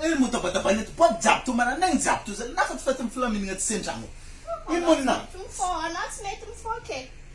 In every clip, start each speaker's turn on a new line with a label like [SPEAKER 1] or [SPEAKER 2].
[SPEAKER 1] Eny moa tabatabaina eto boaty jiaby toa maranay ny jiaby toa zany nafa tsy fety mifilaminagna tsy sendra anao. Ino moa ny naha. Tsy mifoha anao tsy mety
[SPEAKER 2] mifoha ke.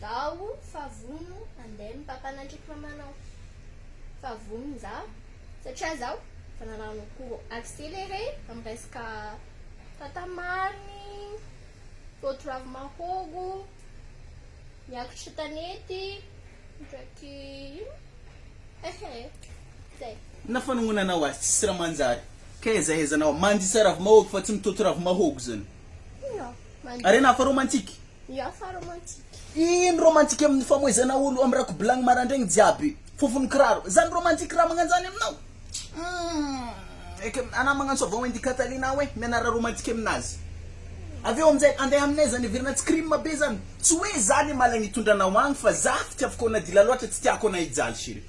[SPEAKER 2] Daho fa vono andeha ny papanandriko mamanao fa vono za satria zaho efa nanano cours accéléré amin'ny resaka tata marigny, voto ravi-mahôgo, miakotry tanety ndraiky ino ehe zay. Na fanongonanao
[SPEAKER 1] aza tsisy raha manjary ka ezaezanao mandisa ravi-mahôgo fa tsy mitoto ravi-mahôgo zany.
[SPEAKER 2] Harena hafa romantique.
[SPEAKER 1] Hafa
[SPEAKER 2] romantique. Ino romantique
[SPEAKER 1] amin'ny famoizana olo amin'ny rakobilagny marandraigny jiaby fofon'ny kiraro. Zany romantique raha magnanzany aminao? Humm eky anah magnano savon indi Catalina hoe mianara romantique aminazy. Avy eo aminjay andeha aminay zany heverina tsy crime be zany. Tsy hoe za le malagny itondranao agny fa za fitiavako anah dila loatra tsy tiako anah hijaly chérie.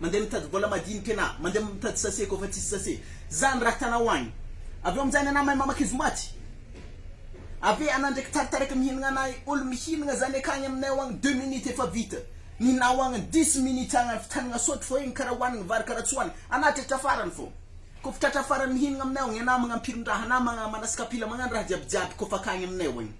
[SPEAKER 1] Mandeha mitady vola madinika na mandeha mitady sase koa fa tsisy sase. Zany raha tanao agny. Avy eo aminjay ny anamahy mamaky izy maty. Avy eo ana ndraiky taritarika mihinagna na olo mihinagna zany akagny aminay ao agny deux minutes efa vita. Ny nao agny dix minutes agny avitanagna sôtro fô igny karaha hoanigny vary karaha tsy hoanigny. Ana tratra farany fô. Koa fa tratra farany mihinagna aminay ao agny ana magnampirindraha ana magna manas kapila magnano raha jiabijiaby koa fa akagny aminay ao agny.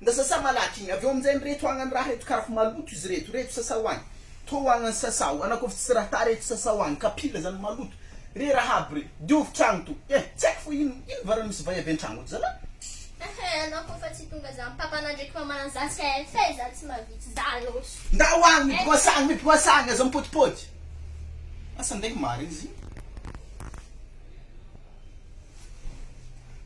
[SPEAKER 1] Nda sasa malaky igny, avy eo aminjegny reto agna ny raha reto karaha fa maloto izy reto, reto sasao agny, tô agna ny sasao, anao kôfa tsy raha ta reto sasao agny, kapila zany maloto, re raha aby re, diovy tragno to, eh tsy aiko fô ino, ino varany misy vay avy antragno ato zalah? Eheh anao kôfa tsy tonga
[SPEAKER 2] za mipapana ndreky mamana za cf eh za tsy
[SPEAKER 1] mavitsy za lôso. Nda ho agny miboasa agny, miboasa agny, aza mipôdipôdy, asa ndeha marigny izy igny.